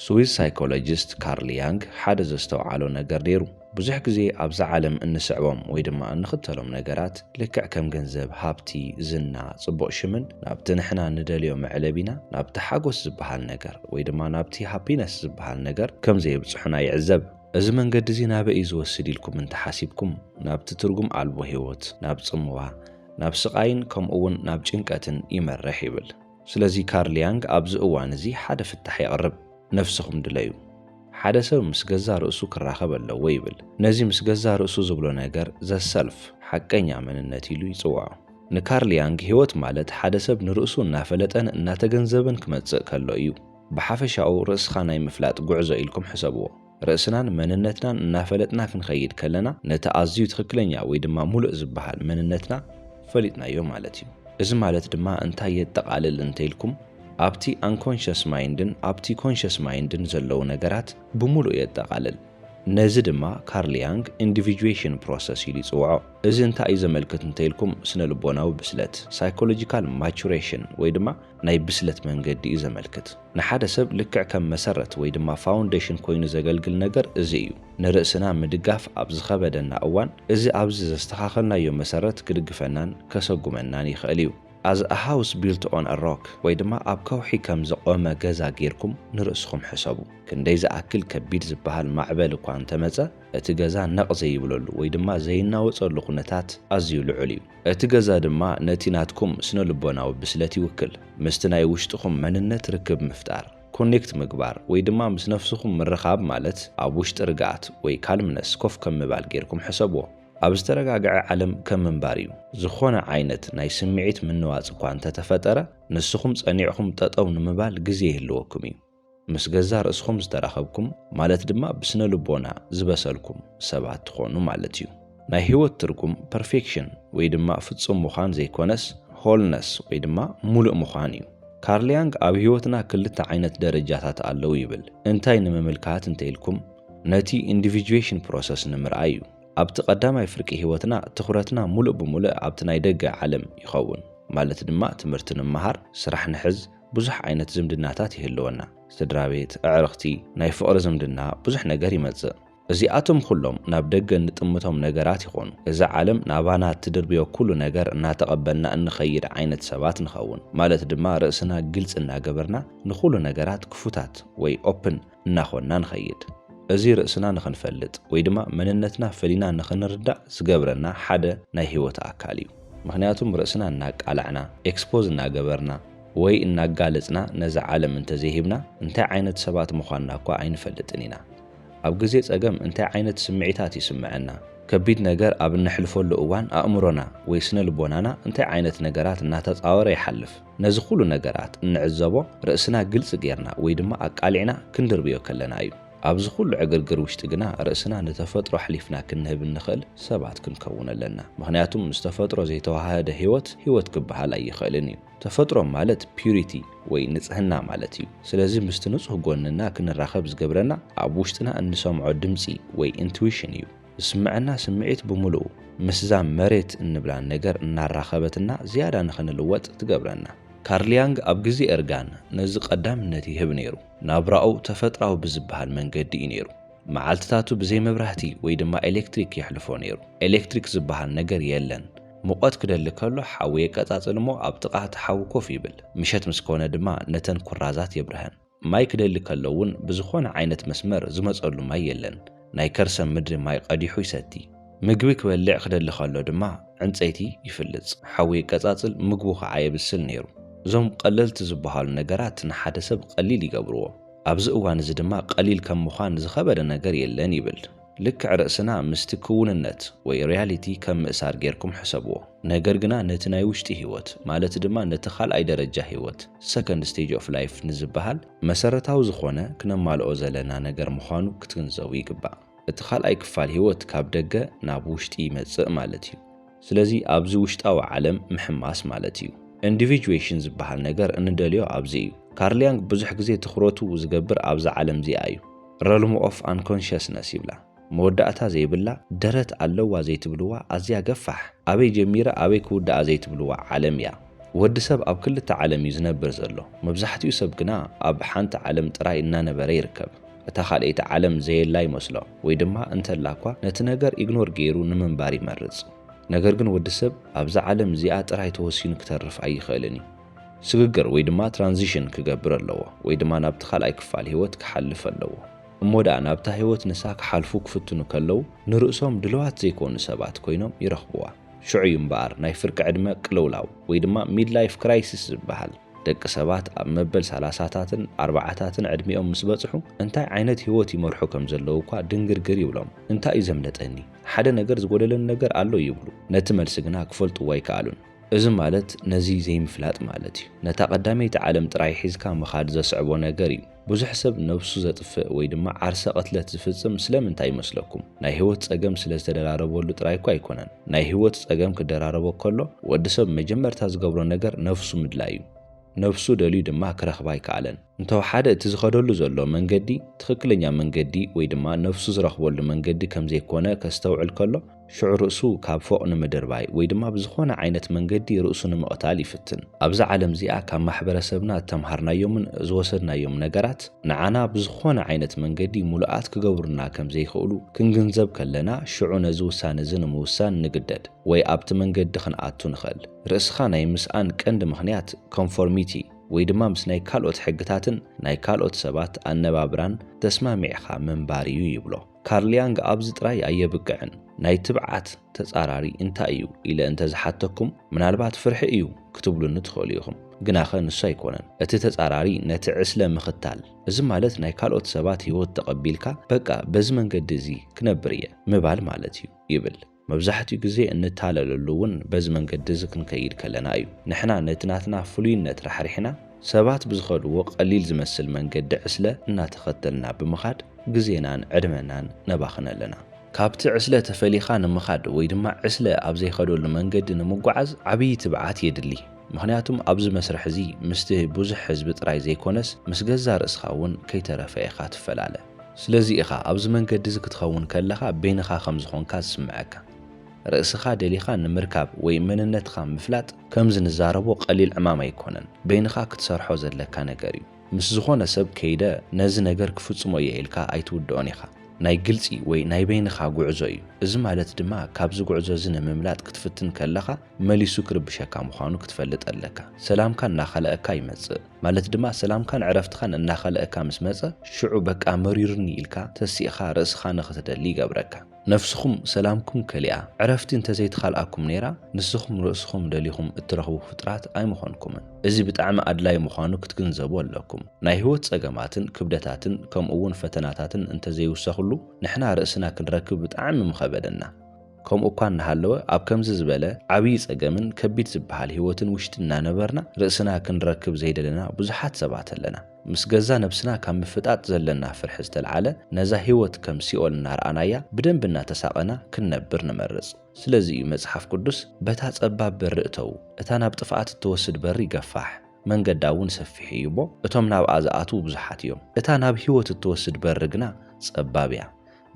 ስዊዝ ሳይኮሎጂስት ካርል ያንግ ሓደ ዘስተውዓሎ ነገር ነይሩ። ብዙሕ ግዜ ኣብዛ ዓለም እንስዕቦም ወይ ድማ እንኽተሎም ነገራት ልክዕ ከም ገንዘብ፣ ሃብቲ፣ ዝና፣ ጽቡቕ ሽምን ናብቲ ንሕና እንደልዮ መዕለቢና ናብቲ ሓጎስ ዝበሃል ነገር ወይ ድማ ናብቲ ሃፒነስ ዝበሃል ነገር ከም ዘየብጽሑና ይዕዘብ። እዚ መንገዲ እዚ ናበይ እዩ ዝወስድ ኢልኩም እንተ ሓሲብኩም፣ ናብቲ ትርጉም ኣልቦ ህይወት፣ ናብ ጽምዋ፣ ናብ ስቓይን ከምኡ'ውን ናብ ጭንቀትን ይመርሕ ይብል። ስለዚ ካርል ያንግ ኣብዚ እዋን እዚ ሓደ ፍታሕ የቕርብ፣ ነፍስኹም ድለዩ። ሓደ ሰብ ምስ ገዛ ርእሱ ክራኸብ ኣለዎ ይብል። ነዚ ምስ ገዛ ርእሱ ዝብሎ ነገር ዘ ሰልፍ፣ ሓቀኛ መንነት፣ ኢሉ ይጽውዖ። ንካርል ያንግ ህይወት ማለት ሓደ ሰብ ንርእሱ እናፈለጠን እናተገንዘበን ክመጽእ ከሎ እዩ። ብሓፈሻኡ ርእስኻ ናይ ምፍላጥ ጉዕዞ ኢልኩም ሕሰብዎ። ርእስናን መንነትናን እናፈለጥና ክንኸይድ ከለና ነቲ ኣዝዩ ትኽክለኛ ወይ ድማ ሙሉእ ዝበሃል መንነትና ፈሊጥናዮ ማለት እዩ። እዚ ማለት ድማ እንታይ የጠቓልል እንተይልኩም ኣብቲ ኣንኮንሸስ ማይንድን ኣብቲ ኮንሸስ ማይንድን ዘለዉ ነገራት ብሙሉእ የጠቓልል። ነዚ ድማ ካርል ያንግ ኢንዲቪጁዌሽን ፕሮሰስ ኢሉ ይፅውዖ። እዚ እንታይ እዩ ዘመልክት እንተይልኩም ስነልቦናዊ ብስለት፣ ሳይኮሎጂካል ማቹሬሽን፣ ወይ ድማ ናይ ብስለት መንገዲ እዩ ዘመልክት። ንሓደ ሰብ ልክዕ ከም መሰረት ወይ ድማ ፋውንዴሽን ኮይኑ ዘገልግል ነገር እዚ እዩ። ንርእስና ምድጋፍ ኣብ ዝኸበደና እዋን እዚ ኣብዚ ዘስተኻኸልናዮ መሰረት ክድግፈናን ከሰጉመናን ይኽእል እዩ። As a house built on a rock ወይ ድማ ኣብ ከውሒ ከም ዝቖመ ገዛ ጌርኩም ንርእስኹም ሕሰቡ። ክንደይ ዝኣክል ከቢድ ዝበሃል ማዕበል እኳ እንተመጸ እቲ ገዛ ነቕ ዘይብለሉ ወይ ድማ ዘይናወጸሉ ኩነታት ኣዝዩ ልዑል እዩ። እቲ ገዛ ድማ ነቲ ናትኩም ስነልቦናዊ ብስለት ይውክል። ምስቲ ናይ ውሽጥኹም መንነት ርክብ ምፍጣር፣ ኮኔክት ምግባር፣ ወይ ድማ ምስ ነፍስኹም ምርኻብ ማለት ኣብ ውሽጢ ርግኣት ወይ ካልምነስ ኮፍ ከም ምባል ጌርኩም ሕሰብዎ። ኣብ ዝተረጋግዐ ዓለም ከም ምንባር እዩ። ዝኾነ ዓይነት ናይ ስምዒት ምንዋጽ እኳ እንተተፈጠረ ንስኹም ጸኒዕኹም ጠጠው ንምባል ግዜ ይህልወኩም እዩ። ምስ ገዛእ ርእስኹም ዝተራኸብኩም ማለት ድማ ብስነ ልቦና ዝበሰልኩም ሰባት ትኾኑ ማለት እዩ። ናይ ህይወት ትርጉም ፐርፌክሽን ወይ ድማ ፍጹም ምዃን ዘይኮነስ ሆልነስ ወይ ድማ ሙሉእ ምዃን እዩ። ካርል ያንግ ኣብ ህይወትና ክልተ ዓይነት ደረጃታት ኣለው ይብል። እንታይ ንምምልካት እንተኢልኩም ነቲ ኢንዲቪጁዌሽን ፕሮሰስ ንምርኣይ እዩ። ኣብቲ ቀዳማይ ፍርቂ ህይወትና ትኹረትና ሙሉእ ብሙሉእ ኣብቲ ናይ ደገ ዓለም ይኸውን ማለት ድማ ትምህርቲ ንመሃር፣ ስራሕ ንሕዝ፣ ብዙሕ ዓይነት ዝምድናታት ይህልወና። ስድራ ቤት፣ ኣዕርኽቲ፣ ናይ ፍቕሪ ዝምድና ብዙሕ ነገር ይመጽእ። እዚኣቶም ኹሎም ናብ ደገ እንጥምቶም ነገራት ይኾኑ። እዛ ዓለም ናባና እትድርብዮ ኩሉ ነገር እናተቐበልና እንኸይድ ዓይነት ሰባት ንኸውን። ማለት ድማ ርእስና ግልጺ እናገበርና ንኹሉ ነገራት ክፉታት ወይ ኦፕን እናኾንና ንኸይድ። እዚ ርእስና ንኽንፈልጥ ወይ ድማ መንነትና ፈሊና ንኽንርዳእ ዝገብረና ሓደ ናይ ህይወት ኣካል እዩ። ምኽንያቱም ርእስና እናቃላዕና፣ ኤክስፖዝ እናገበርና ወይ እናጋለጽና ነዛ ዓለም እንተዘይሂብና እንታይ ዓይነት ሰባት ምዃንና እኳ ኣይንፈልጥን ኢና። ኣብ ግዜ ጸገም እንታይ ዓይነት ስምዒታት ይስምዐና? ከቢድ ነገር ኣብ እነሕልፈሉ እዋን ኣእምሮና ወይ ስነ ልቦናና እንታይ ዓይነት ነገራት እናተጻወረ ይሓልፍ? ነዚ ኹሉ ነገራት እንዕዘቦ ርእስና ግልጺ ጌርና ወይ ድማ ኣቃሊዕና ክንድርብዮ ከለና እዩ። ኣብዚ ኹሉ ዕግርግር ውሽጢ ግና ርእስና ንተፈጥሮ ኣሕሊፍና ክንህብ እንኽእል ሰባት ክንከውን ኣለና። ምኽንያቱም ምስ ተፈጥሮ ዘይተወሃህደ ሕይወት ሕይወት ክበሃል ኣይኽእልን እዩ። ተፈጥሮ ማለት Purity ወይ ንጽህና ማለት እዩ። ስለዚ ምስቲ ንጹህ ጎንና ክንራኸብ ዝገብረና ኣብ ውሽጥና እንሰምዖ ድምጺ ወይ Intuition እዩ። ዝስመዐና ስምዒት ብምሉኡ ምስዛ መሬት እንብላ ነገር እናራኸበትና ዝያዳ ንኽንልወጥ ትገብረና። ካርል ያንግ ኣብ ግዜ እርጋን ነዚ ቀዳምነት ይህብ ነይሩ። ናብራኡ ተፈጥራዊ ብዝበሃል መንገዲ እዩ ነይሩ። መዓልትታቱ ብዘይ መብራህቲ ወይ ድማ ኤለክትሪክ የሕልፎ ነይሩ። ኤለክትሪክ ዝበሃል ነገር የለን። ሙቐት ክደሊ ከሎ ሓዊ የቀጻጽል'ሞ ኣብ ጥቓ እቲ ሓዊ ኮፍ ይብል። ምሸት ምስ ኮነ ድማ ነተን ኩራዛት የብርሀን። ማይ ክደሊ ከሎ እውን ብዝኾነ ዓይነት መስመር ዝመፀሉ ማይ የለን። ናይ ከርሰ ምድሪ ማይ ቐዲሑ ይሰቲ። ምግቢ ክበልዕ ክደሊ ከሎ ድማ ዕንፀይቲ ይፍልፅ፣ ሓዊ የቀፃፅል፣ ምግቡ ከዓ የብስል ነይሩ። እዞም ቐለልቲ ዝበሃሉ ነገራት ንሓደ ሰብ ቐሊል ይገብርዎ። ኣብዚ እዋን እዚ ድማ ቐሊል ከም ምዃን ዝኸበደ ነገር የለን ይብል። ልክዕ ርእስና ምስቲ ክውንነት ወይ ሪያሊቲ ከም ምእሳር ጌርኩም ሕሰብዎ። ነገር ግና ነቲ ናይ ውሽጢ ህይወት ማለት ድማ ነቲ ካልኣይ ደረጃ ህይወት፣ Second Stage of Life፣ ንዝበሃል፣ መሰረታዊ ዝኾነ ክነማልኦ ዘለና ነገር ምዃኑ ክትግንዘቡ ይግባእ። እቲ ካልኣይ ክፋል ህይወት ካብ ደገ ናብ ውሽጢ ይመጽእ ማለት እዩ። ስለዚ ኣብዚ ውሽጣዊ ዓለም ምሕማስ ማለት እዩ። Individuation ዝበሃል ነገር እንደልዮ ኣብዚ እዩ። ካርል ያንግ ብዙሕ ግዜ ትኹረቱ ዝገብር ኣብዛ ዓለም እዚኣ እዩ። Realm of Unconsciousness ይብላ። መወዳእታ ዘይብላ፣ ደረት ኣለዋ ዘይትብልዋ፣ ኣዝያ ገፋሕ፣ ኣበይ ጀሚራ ኣበይ ክውድኣ ዘይትብልዋ ዓለም እያ። ወዲ ሰብ ኣብ ክልተ ዓለም እዩ ዝነብር ዘሎ። መብዛሕትኡ ሰብ ግና ኣብ ሓንቲ ዓለም ጥራይ እናነበረ ይርከብ። እታ ካልኣይቲ ዓለም ዘየላ ይመስሎ ወይ ድማ እንተላ እኳ ነቲ ነገር ኢግኖር ገይሩ ንምንባር ይመርጽ። ነገር ግን ወዲ ሰብ ኣብዛ ዓለም እዚኣ ጥራይ ተወሲኑ ክተርፍ ኣይኽእልን እዩ። ስግግር ወይ ድማ ትራንዚሽን ክገብር ኣለዎ ወይ ድማ ናብቲ ካልኣይ ክፋል ህይወት ክሓልፍ ኣለዎ። እሞ ደኣ ናብታ ህይወት ንሳ ክሓልፉ ክፍትኑ ከለዉ ንርእሶም ድልዋት ዘይኮኑ ሰባት ኮይኖም ይረኽብዋ። ሽዑ እዩ እምበኣር ናይ ፍርቂ ዕድመ ቅልውላው ወይ ድማ ሚድላይፍ ክራይሲስ ዝበሃል። ደቂ ሰባት ኣብ መበል ሰላሳታትን ኣርባዓታትን ዕድሚኦም ምስ በጽሑ እንታይ ዓይነት ህይወት ይመርሑ ከም ዘለዉ እኳ ድንግርግር ይብሎም። እንታይ እዩ ዘምለጠኒ? ሓደ ነገር ዝጎደለኒ ነገር ኣሎ ይብሉ። ነቲ መልሲ ግና ክፈልጥዎ ኣይከኣሉን። እዚ ማለት ነዚ ዘይምፍላጥ ማለት እዩ። ነታ ቀዳመይቲ ዓለም ጥራይ ሒዝካ ምኻድ ዘስዕቦ ነገር እዩ። ብዙሕ ሰብ ነብሱ ዘጥፍእ ወይ ድማ ዓርሰ ቅትለት ዝፍጽም ስለምንታይ ይመስለኩም? ናይ ህይወት ጸገም ስለ ዝተደራረበሉ ጥራይ እኮ ኣይኮነን። ናይ ህይወት ጸገም ክደራረቦ ከሎ ወዲ ሰብ መጀመርታ ዝገብሮ ነገር ነብሱ ምድላይ እዩ። ነብሱ ደልዩ ድማ ክረኽባ ኣይከኣለን። እንተወሓደ እቲ ዝኸደሉ ዘሎ መንገዲ ትኽክለኛ መንገዲ ወይ ድማ ነብሱ ዝረኽበሉ መንገዲ ከም ዘይኮነ ከስተውዕል ከሎ፣ ሽዑ ርእሱ ካብ ፎቕ ንምድርባይ ወይ ድማ ብዝኾነ ዓይነት መንገዲ ርእሱ ንምቕታል ይፍትን። ኣብዛ ዓለም እዚኣ ካብ ማሕበረሰብና እተምሃርናዮምን ዝወሰድናዮም ነገራት ንዓና ብዝኾነ ዓይነት መንገዲ ሙሉኣት ክገብሩልና ከም ዘይክእሉ ክንግንዘብ ከለና ሽዑ ነዚ ውሳነ እዚ ንምውሳን ንግደድ ወይ ኣብቲ መንገዲ ክንኣቱ ንኸእል። ርእስኻ ናይ ምስኣን ቀንዲ ምኽንያት ኮንፎርሚቲ ወይ ድማ ምስ ናይ ካልኦት ሕግታትን ናይ ካልኦት ሰባት ኣነባብራን ተስማሚዕኻ ምንባር እዩ ይብሎ። ካርል ያንግ ኣብዚ ጥራይ ኣየብቅዕን። ናይ ትብዓት ተጻራሪ እንታይ እዩ ኢለ እንተ ዝሓተኩም፣ ምናልባት ፍርሒ እዩ ክትብሉኒ ትኽእሉ ኢኹም። ግናኸ ንሱ ኣይኮነን። እቲ ተጻራሪ ነቲ ዕስለ ምኽታል፣ እዚ ማለት ናይ ካልኦት ሰባት ህይወት ተቐቢልካ በቃ በዚ መንገዲ እዚ ክነብር እየ ምባል ማለት እዩ ይብል። መብዛሕትኡ ግዜ እንታለለሉ እውን በዚ መንገዲ እዚ ክንከይድ ከለና እዩ። ንሕና ነቲ ናትና ፍሉይነት ራሕሪሕና ሰባት ብዝኸድዎ ቀሊል ዝመስል መንገዲ ዕስለ እናተኸተልና ብምኻድ ግዜናን ዕድመናን ነባኽን ኣለና። ካብቲ ዕስለ ተፈሊኻ ንምኻድ ወይ ድማ ዕስለ ኣብ ዘይኸደሉ መንገዲ ንምጉዓዝ ዓብዪ ትብዓት የድሊ። ምኽንያቱም ኣብዚ መስርሕ እዚ ምስቲ ብዙሕ ህዝቢ ጥራይ ዘይኮነስ ምስ ገዛእ ርእስኻ እውን ከይተረፈ ኢኻ ትፈላለ። ስለዚ ኢኻ ኣብዚ መንገዲ እዚ ክትኸውን ከለኻ በይንኻ ከም ዝኾንካ ዝስምዐካ። ርእስኻ ደሊኻ ንምርካብ ወይ መንነትኻ ምፍላጥ ከምዚ ንዛረቦ ቀሊል ዕማም ኣይኮነን፣ በይንኻ ክትሰርሖ ዘለካ ነገር እዩ። ምስ ዝኾነ ሰብ ከይደ ነዚ ነገር ክፍጽሞ እየ ኢልካ ኣይትውድኦን ኢኻ። ናይ ግልጺ ወይ ናይ በይንኻ ጉዕዞ እዩ። እዚ ማለት ድማ ካብዚ ጉዕዞ እዚ ንምምላጥ ክትፍትን ከለኻ መሊሱ ክርብሸካ ምዃኑ ክትፈልጥ ኣለካ። ሰላምካ እናኸልኣካ ይመጽእ። ማለት ድማ ሰላምካን ዕረፍትኻን እናኸልኣካ ምስ መጸ፣ ሽዑ በቃ መሪሩኒ ኢልካ ተሲእኻ ርእስኻ ንኽትደሊ ይገብረካ። ነፍስኹም ሰላምኩም ከሊኣ፣ ዕረፍቲ እንተዘይተኻልኣኩም ነይራ፣ ንስኹም ርእስኹም ደሊኹም እትረኽቡ ፍጡራት ኣይምኾንኩምን። እዚ ብጣዕሚ ኣድላዪ ምዃኑ ክትግንዘቡ ኣለኩም። ናይ ህይወት ጸገማትን ክብደታትን ከምኡ'ውን ፈተናታትን እንተዘይውሰኽሉ፣ ንሕና ርእስና ክንረክብ ብጣዕሚ ምኸበደና። ከምኡ እኳ እናሃለወ ኣብ ከምዚ ዝበለ ዓብዪ ጸገምን ከቢድ ዝበሃል ህይወትን ውሽጢ እናነበርና ርእስና ክንረክብ ዘይደለና ብዙሓት ሰባት ኣለና። ምስ ገዛ ነብስና ካብ ምፍጣጥ ዘለና ፍርሒ ዝተልዓለ ነዛ ህይወት ከም ሲኦል እናረኣናያ ብደንቢ እናተሳቐና ክንነብር ንመርጽ። ስለዚ እዩ መጽሓፍ ቅዱስ በታ ጸባብ በሪ እተዉ፣ እታ ናብ ጥፍኣት እትወስድ በሪ ገፋሕ፣ መንገዳ እውን ሰፊሕ እዩ እሞ እቶም ናብኣ ዝኣትዉ ብዙሓት እዮም፣ እታ ናብ ህይወት እትወስድ በሪ ግና ጸባብ እያ፣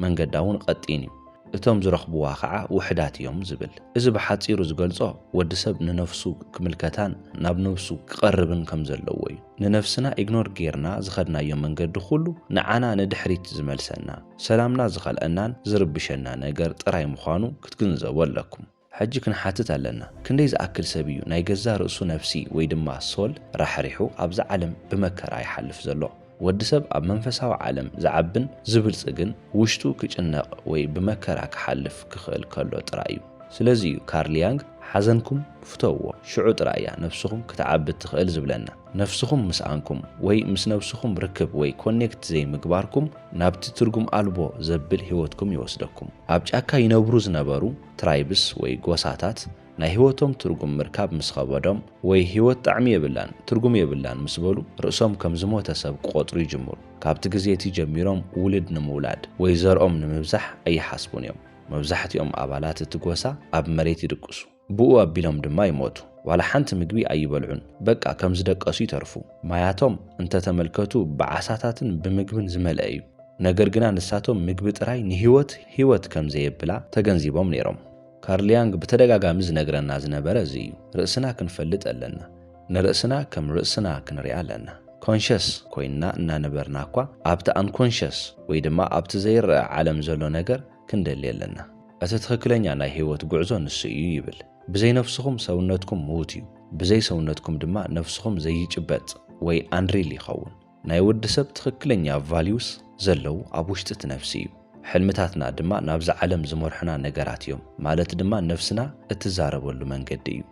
መንገዳ እውን ቐጢን እዩ፣ እቶም ዝረኽብዋ ኸዓ ውሕዳት እዮም ዝብል። እዚ ብሓፂሩ ዝገልፆ ወዲ ሰብ ንነፍሱ ክምልከታን ናብ ነብሱ ክቐርብን ከም ዘለዎ እዩ። ንነፍስና ኢግኖር ገይርና ዝኸድናዮ መንገዲ ኹሉ ንዓና ንድሕሪት ዝመልሰና፣ ሰላምና ዝኸልኣናን ዝርብሸና ነገር ጥራይ ምዃኑ ክትግንዘቡ ኣለኩም። ሕጂ ክንሓትት ኣለና፣ ክንደይ ዝኣክል ሰብ እዩ ናይ ገዛእ ርእሱ ነፍሲ ወይ ድማ ሶል ራሕሪሑ ኣብዛ ዓለም ብመከራ ይሓልፍ ዘሎ? ወዲ ሰብ ኣብ መንፈሳዊ ዓለም ዝዓብን ዝብልጽግን ውሽጡ ክጭነቕ ወይ ብመከራ ክሓልፍ ክኽእል ከሎ ጥራይ እዩ። ስለዚ እዩ ካርል ያንግ ሓዘንኩም ፍተውዎ፣ ሽዑ ጥራይ እያ ነፍስኹም ክትዓቢ እትኽእል ዝብለና። ነፍስኹም ምስኣንኩም ወይ ምስ ነብስኹም ርክብ ወይ ኮኔክት ዘይምግባርኩም ናብቲ ትርጉም ኣልቦ ዘብል ህይወትኩም ይወስደኩም። ኣብ ጫካ ይነብሩ ዝነበሩ ትራይብስ ወይ ጎሳታት ናይ ህይወቶም ትርጉም ምርካብ ምስ ኸበዶም ወይ ህይወት ጣዕሚ የብላን ትርጉም የብላን ምስ በሉ ርእሶም ከም ዝሞተ ሰብ ክቖጽሩ ይጅምሩ። ካብቲ ግዜ እቲ ጀሚሮም ውልድ ንምውላድ ወይ ዘርኦም ንምብዛሕ ኣይሓስቡን እዮም። መብዛሕትኦም ኣባላት እቲ ጎሳ ኣብ መሬት ይድቅሱ። ብኡ ኣቢሎም ድማ ይሞቱ። ዋላ ሓንቲ ምግቢ ኣይበልዑን በቃ ከም ዝደቀሱ ይተርፉ። ማያቶም እንተ ተመልከቱ ብዓሳታትን ብምግብን ዝመልአ እዩ። ነገር ግና ንሳቶም ምግቢ ጥራይ ንህይወት ህይወት ከም ዘየብላ ተገንዚቦም ነይሮም። ካርል ያንግ ብተደጋጋሚ ዝነግረና ዝነበረ እዚ እዩ፣ ርእስና ክንፈልጥ ኣለና። ንርእስና ከም ርእስና ክንሪኣ ኣለና። Conscious ኮይንና እናነበርና እኳ ኣብቲ Unconscious ወይ ድማ ኣብቲ ዘይረኣ ዓለም ዘሎ ነገር ክንደሊ ኣለና። እቲ ትኽክለኛ ናይ ህይወት ጉዕዞ ንሱ እዩ ይብል። ብዘይ ነፍስኹም ሰውነትኩም ምዉት እዩ፣ ብዘይ ሰውነትኩም ድማ ነፍስኹም ዘይጭበጥ ወይ Unreal ይኸውን። ናይ ወዲ ሰብ ትኽክለኛ ቫልዩስ ዘለዉ ኣብ ውሽጢ እቲ ነፍሲ እዩ። ሕልምታትና ድማ ናብዛ ዓለም ዝመርሑና ነገራት እዮም፣ ማለት ድማ ነፍስና እትዛረበሉ መንገዲ እዩ።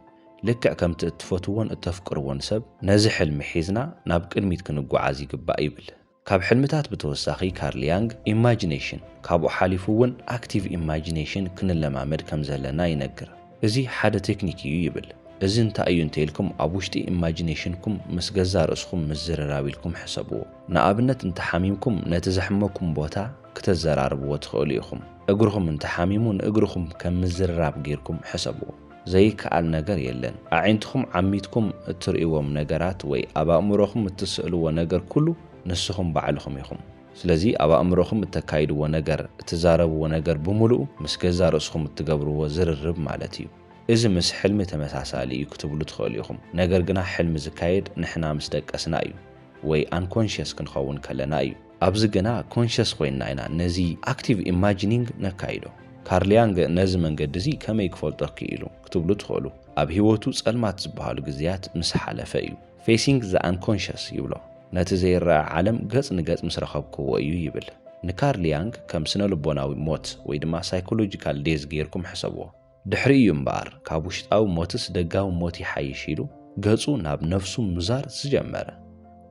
ልክዕ ከምቲ እትፈትዎን እተፍቅርዎን ሰብ ነዚ ሕልሚ ሒዝና ናብ ቅድሚት ክንጓዓዝ ይግባእ ይብል። ካብ ሕልምታት ብተወሳኺ ካርል ያንግ ኢማጂነሽን፣ ካብኡ ሓሊፉ እውን ኣክቲቭ ኢማጂነሽን ክንለማመድ ከም ዘለና ይነግር። እዚ ሓደ ቴክኒክ እዩ ይብል። እዚ እንታይ እዩ እንተኢልኩም ኣብ ውሽጢ ኢማጂኔሽንኩም ምስ ገዛእ ርእስኹም ምዝርራብ ኢልኩም ሕሰብዎ። ንኣብነት እንተሓሚምኩም ነቲ ዘሕመኩም ቦታ ክተዘራርብዎ ትኽእሉ ኢኹም። እግርኹም እንተሓሚሙ ንእግርኹም ከም ምዝርራብ ጌርኩም ሕሰብዎ። ዘይከኣል ነገር የለን። ኣዒንትኹም ዓሚትኩም እትርእይዎም ነገራት ወይ ኣብ ኣእምሮኹም እትስእልዎ ነገር ኩሉ ንስኹም ባዕልኹም ኢኹም። ስለዚ ኣብ ኣእምሮኹም እተካይድዎ ነገር፣ እትዛረብዎ ነገር ብምሉኡ ምስ ገዛእ ርእስኹም እትገብርዎ ዝርርብ ማለት እዩ። እዚ ምስ ሕልሚ ተመሳሳሊ እዩ ክትብሉ ትኽእሉ ኢኹም፣ ነገር ግና ሕልሚ ዝካየድ ንሕና ምስ ደቀስና እዩ ወይ ኣንኮንሽየስ ክንኸውን ከለና እዩ። ኣብዚ ግና ኮንሽየስ ኮይንና ኢና ነዚ ኣክቲቭ ኢማጂኒንግ ነካይዶ። ካርል ያንግ ነዚ መንገዲ እዚ ከመይ ክፈልጦ ክኢሉ ክትብሉ ትኽእሉ። ኣብ ህይወቱ ጸልማት ዝበሃሉ ግዜያት ምስ ሓለፈ እዩ። ፌሲንግ ዘ ኣንኮንሸስ ይብሎ። ነቲ ዘይረኣ ዓለም ገጽ ንገጽ ምስ ረኸብክዎ እዩ ይብል። ንካርል ያንግ ከም ስነ-ልቦናዊ ሞት ወይ ድማ ሳይኮሎጂካል ዴዝ ገይርኩም ሕሰብዎ። ድሕሪኡ እዩ እምበኣር ካብ ውሽጣዊ ሞትስ ደጋዊ ሞት ይሓይሽ ኢሉ ገጹ ናብ ነፍሱ ምዛር ዝጀመረ።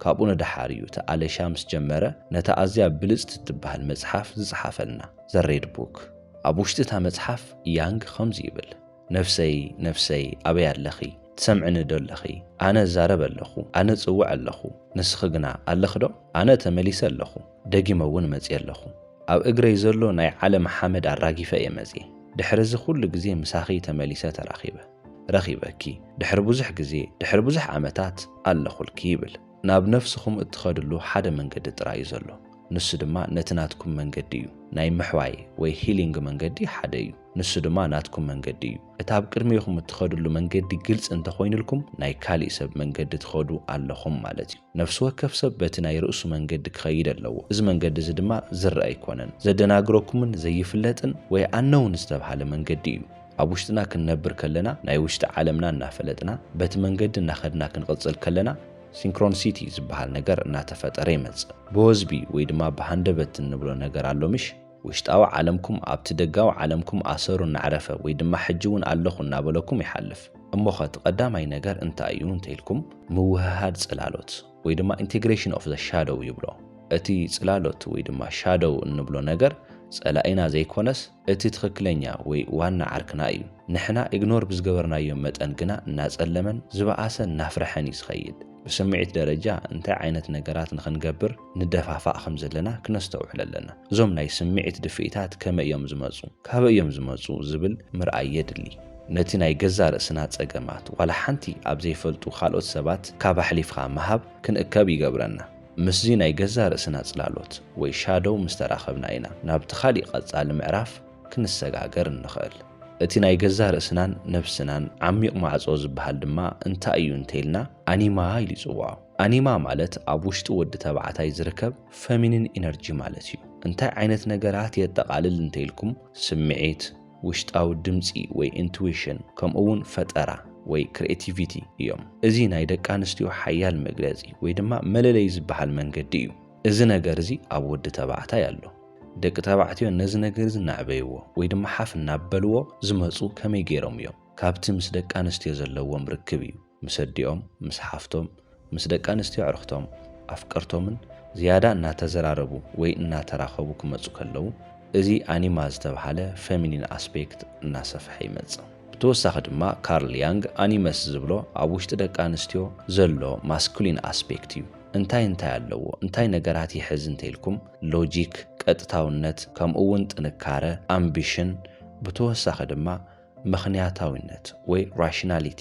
ካብኡ ንደሓር እዩ እቲ ኣለሻ ምስ ጀመረ ነታ ኣዝያ ብልጽቲ እትበሃል መጽሓፍ ዝጸሓፈልና፣ ዘ ሬድ ቡክ። ኣብ ውሽጢ እታ መጽሓፍ ያንግ ከምዚ ይብል። ነፍሰይ ነፍሰይ ኣበይ ኣለኺ ትሰምዕኒ ዶ ኣለኺ ኣነ እዛረብ ኣለኹ ኣነ እጽውዕ ኣለኹ ንስኺ ግና ኣለኺ ዶ ኣነ ተመሊሰ ኣለኹ ደጊመ እውን መጽየ ኣለኹ ኣብ እግረይ ዘሎ ናይ ዓለም ሓመድ ኣራጊፈ እየ መጽየ ድሕሪ እዚ ኩሉ ግዜ ምሳኺ ተመሊሰ ተራኺበ ረኺበኪ ድሕሪ ብዙሕ ግዜ ድሕሪ ብዙሕ ዓመታት ኣለኹልኪ ይብል ናብ ነፍስኹም እትኸድሉ ሓደ መንገዲ ጥራይ እዩ ዘሎ ንሱ ድማ ነቲ ናትኩም መንገዲ እዩ ናይ ምሕዋይ ወይ ሂሊንግ መንገዲ ሓደ እዩ ንሱ ድማ ናትኩም መንገዲ እዩ። እቲ ኣብ ቅድሜኹም እትኸድሉ መንገዲ ግልጺ እንተ ኾይንልኩም ናይ ካሊእ ሰብ መንገዲ ትኸዱ ኣለኹም ማለት እዩ። ነፍሲ ወከፍ ሰብ በቲ ናይ ርእሱ መንገዲ ክኸይድ ኣለዎ። እዚ መንገዲ እዚ ድማ ዝረኣ ኣይኮነን። ዘደናግረኩምን ዘይፍለጥን ወይ ኣነውን ዝተብሃለ መንገዲ እዩ። ኣብ ውሽጥና ክንነብር ከለና ናይ ውሽጢ ዓለምና እናፈለጥና በቲ መንገዲ እናኸድና ክንቕጽል ከለና ሲንክሮንሲቲ ዝበሃል ነገር እናተፈጠረ ይመጽእ። ብወዝቢ ወይ ድማ ብሃንደበት እንብሎ ነገር ኣሎ ምሽ? ውሽጣዊ ዓለምኩም ኣብቲ ደጋዊ ዓለምኩም ኣሰሩ እናዕረፈ ወይ ድማ ሕጂ እውን ኣለኹ እናበለኩም ይሓልፍ። እሞኸ እቲ ቀዳማይ ነገር እንታይ እዩ እንተይልኩም ምውህሃድ ጽላሎት ወይ ድማ Integration of the Shadow ይብሎ። እቲ ጽላሎት ወይ ድማ ሻዶው እንብሎ ነገር ጸላኢና ዘይኮነስ እቲ ትኽክለኛ ወይ ዋና ዓርክና እዩ። ንሕና ኢግኖር ብዝገበርናዮ መጠን ግና እናጸለመን ዝበኣሰ እናፍረሐን እዩ ዝኸይድ። ብስምዒት ደረጃ እንታይ ዓይነት ነገራት ንኽንገብር ንደፋፋእ ከም ዘለና ክነስተውዕል ኣለና። እዞም ናይ ስምዒት ድፍኢታት ከመይ እዮም ዝመጹ? ካበይ እዮም ዝመጹ? ዝብል ምርኣይ የድሊ። ነቲ ናይ ገዛእ ርእስና ጸገማት ዋላ ሓንቲ ኣብ ዘይፈልጡ ካልኦት ሰባት ካብ ኣሕሊፍካ ምሃብ ክንእከብ ይገብረና። ምስዚ ናይ ገዛእ ርእስና ጽላሎት ወይ ሻዶው ምስ ተራኸብና ኢና ናብቲ ካልእ ቀጻሊ ምዕራፍ፣ ክንሰጋገር እንኽእል። እቲ ናይ ገዛእ ርእስናን ነብስናን ዓሚቕ ማዕጾ ዝበሃል ድማ እንታይ እዩ እንተይልና ኣኒማ ኢሉ ይጽውዖ። ኣኒማ ማለት ኣብ ውሽጢ ወዲ ተባዕታይ ዝርከብ ፈሚኒን ኢነርጂ ማለት እዩ። እንታይ ዓይነት ነገራት የጠቓልል እንተይልኩም ስምዒት፣ ውሽጣዊ ድምጺ ወይ ኢንቱዊሽን ከምኡ'ውን ፈጠራ ወይ ክርኤቲቪቲ እዮም። እዚ ናይ ደቂ ኣንስትዮ ሓያል መግለጺ ወይ ድማ መለለዪ ዝበሃል መንገዲ እዩ። እዚ ነገር እዚ ኣብ ወዲ ተባዕታይ ኣሎ። ደቂ ተባዕትዮ ነዚ ነገር እዚ እናዕበይዎ ወይ ድማ ሓፍ እናበልዎ ዝመጹ ከመይ ገይሮም እዮም? ካብቲ ምስ ደቂ ኣንስትዮ ዘለዎም ርክብ እዩ። ምስ ኣዲኦም፣ ምስ ሓፍቶም፣ ምስ ደቂ ኣንስትዮ ኣዕርኽቶም፣ ኣፍቀርቶምን ዝያዳ እናተዘራረቡ ወይ እናተራኸቡ ክመጹ ከለዉ እዚ ኣኒማ ዝተብሃለ ፈሚኒን ኣስፔክት እናሰፍሐ ይመጽእ። ብተወሳኺ ድማ ካርል ያንግ ኣኒመስ ዝብሎ ኣብ ውሽጢ ደቂ ኣንስትዮ ዘሎ ማስኩሊን ኣስፔክት እዩ። እንታይ እንታይ ኣለዎ፣ እንታይ ነገራት ይሕዝ እንተይልኩም፣ ሎጂክ፣ ቀጥታውነት፣ ከምኡ እውን ጥንካረ፣ ኣምቢሽን፣ ብተወሳኺ ድማ ምኽንያታዊነት ወይ ራሽናሊቲ።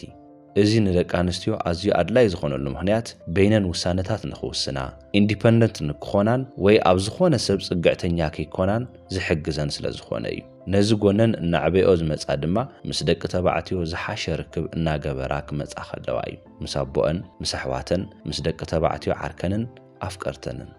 እዚ ንደቂ ኣንስትዮ ኣዝዩ ኣድላዪ ዝኾነሉ ምኽንያት በይነን ውሳነታት ንኽውስና፣ ኢንዲፐንደንት ንክኾናን ወይ ኣብ ዝኾነ ሰብ ፅግዕተኛ ከይኮናን ዝሕግዘን ስለዝኾነ እዩ። ነዚ ጎነን እናዕበይኦ ዝመፃ ድማ ምስ ደቂ ተባዕትዮ ዝሓሸ ርክብ እናገበራ ክመፃ ከለዋ እዩ። ምስ ኣቦኣን ምስ ኣሕዋተን ምስ ደቂ ተባዕትዮ ዓርከንን ኣፍቀርተንን።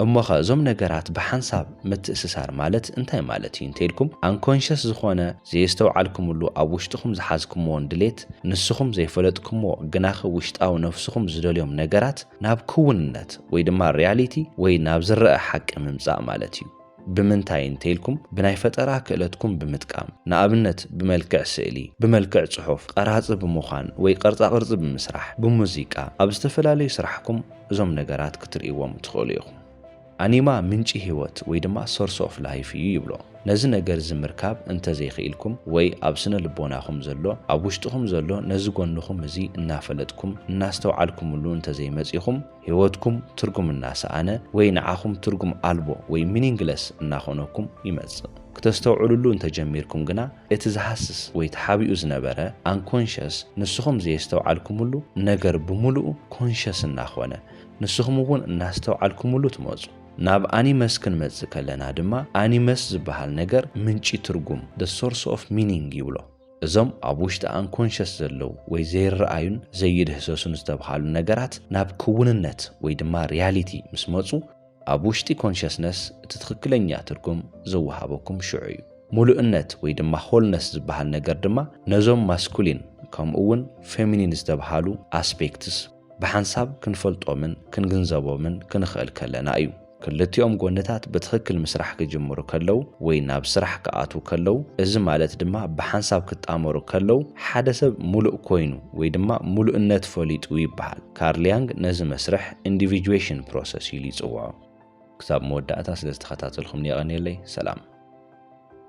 እሞኸ እዞም ነገራት ብሓንሳብ ምትእስሳር ማለት እንታይ ማለት እዩ እንተኢልኩም ኣንኮንሸስ ዝኾነ ዘየስተውዓልኩምሉ ኣብ ውሽጥኹም ዝሓዝኩምዎን ድሌት ንስኹም ዘይፈለጥኩምዎ ግናኸ ውሽጣዊ ነፍስኹም ዝደልዮም ነገራት ናብ ክውንነት ወይ ድማ ሪያሊቲ ወይ ናብ ዝረኣ ሓቂ ምምጻእ ማለት እዩ። ብምንታይ እንተይልኩም ብናይ ፈጠራ ክእለትኩም ብምጥቃም ንኣብነት ብመልክዕ ስእሊ፣ ብመልክዕ ጽሑፍ፣ ቐራጺ ብምዃን ወይ ቐርጻቕርጺ ብምስራሕ፣ ብሙዚቃ፣ ኣብ ዝተፈላለዩ ስራሕኩም እዞም ነገራት ክትርእይዎም ትኽእሉ ኢኹም። ኣኒማ ምንጪ ህይወት ወይ ድማ Source of Life እዩ ይብሎ። ነዚ ነገር እዚ ምርካብ እንተዘይኽኢልኩም ወይ ኣብ ስነ ልቦናኹም ዘሎ ኣብ ውሽጥኹም ዘሎ ነዚ ጎንኹም እዚ እናፈለጥኩም እናስተውዓልኩምሉ እንተዘይመጺኹም፣ ህይወትኩም ትርጉም እናሰኣነ ወይ ንዓኹም ትርጉም ኣልቦ ወይ ሚኒንግለስ እናኾነኩም ይመጽእ። ክተስተውዕሉሉ እንተጀሚርኩም ግና እቲ ዝሃስስ ወይ ተሓቢኡ ዝነበረ፣ ኣንኮንሸስ፣ ንስኹም ዘየስተውዓልኩምሉ ነገር ብምሉኡ ኮንሸስ እናኾነ ንስኹም እውን እናስተውዓልኩምሉ ትመጹ። ናብ ኣኒመስ ክንመጽእ ከለና ድማ ኣኒመስ ዝበሃል ነገር ምንጪ ትርጉም፣ the source of meaning፣ ይብሎ። እዞም ኣብ ውሽጢ ኣንኮንሸስ ዘለዉ ወይ ዘይረኣዩን ዘይድህሰሱን ዝተብሃሉ ነገራት ናብ ክውንነት ወይ ድማ ሪያሊቲ ምስ መጹ ኣብ ውሽጢ ኮንሸስነስ እቲ ትኽክለኛ ትርጉም ዝወሃበኩም ሽዑ እዩ። ሙሉእነት ወይ ድማ ሆልነስ ዝበሃል ነገር ድማ ነዞም ማስኩሊን ከምኡ እውን ፌሚኒን ዝተብሃሉ ኣስፔክትስ፣ ብሓንሳብ ክንፈልጦምን ክንግንዘቦምን ክንኽእል ከለና እዩ። ክልቲኦም ጎንታት ብትኽክል ምስራሕ ክጅምሩ ከለው ወይ ናብ ስራሕ ክኣትው ከለው እዚ ማለት ድማ ብሓንሳብ ክጣመሩ ከለው ሓደ ሰብ ሙሉእ ኮይኑ ወይ ድማ ሙሉእነት ፈሊጡ ይበሃል። ካርል ያንግ ነዚ መስርሕ ኢንዲቪጁዌሽን ፕሮሰስ ኢሉ ይፅውዖ። ክሳብ መወዳእታ ስለ ዝተኸታተልኹምኒ የቐንየለይ። ሰላም።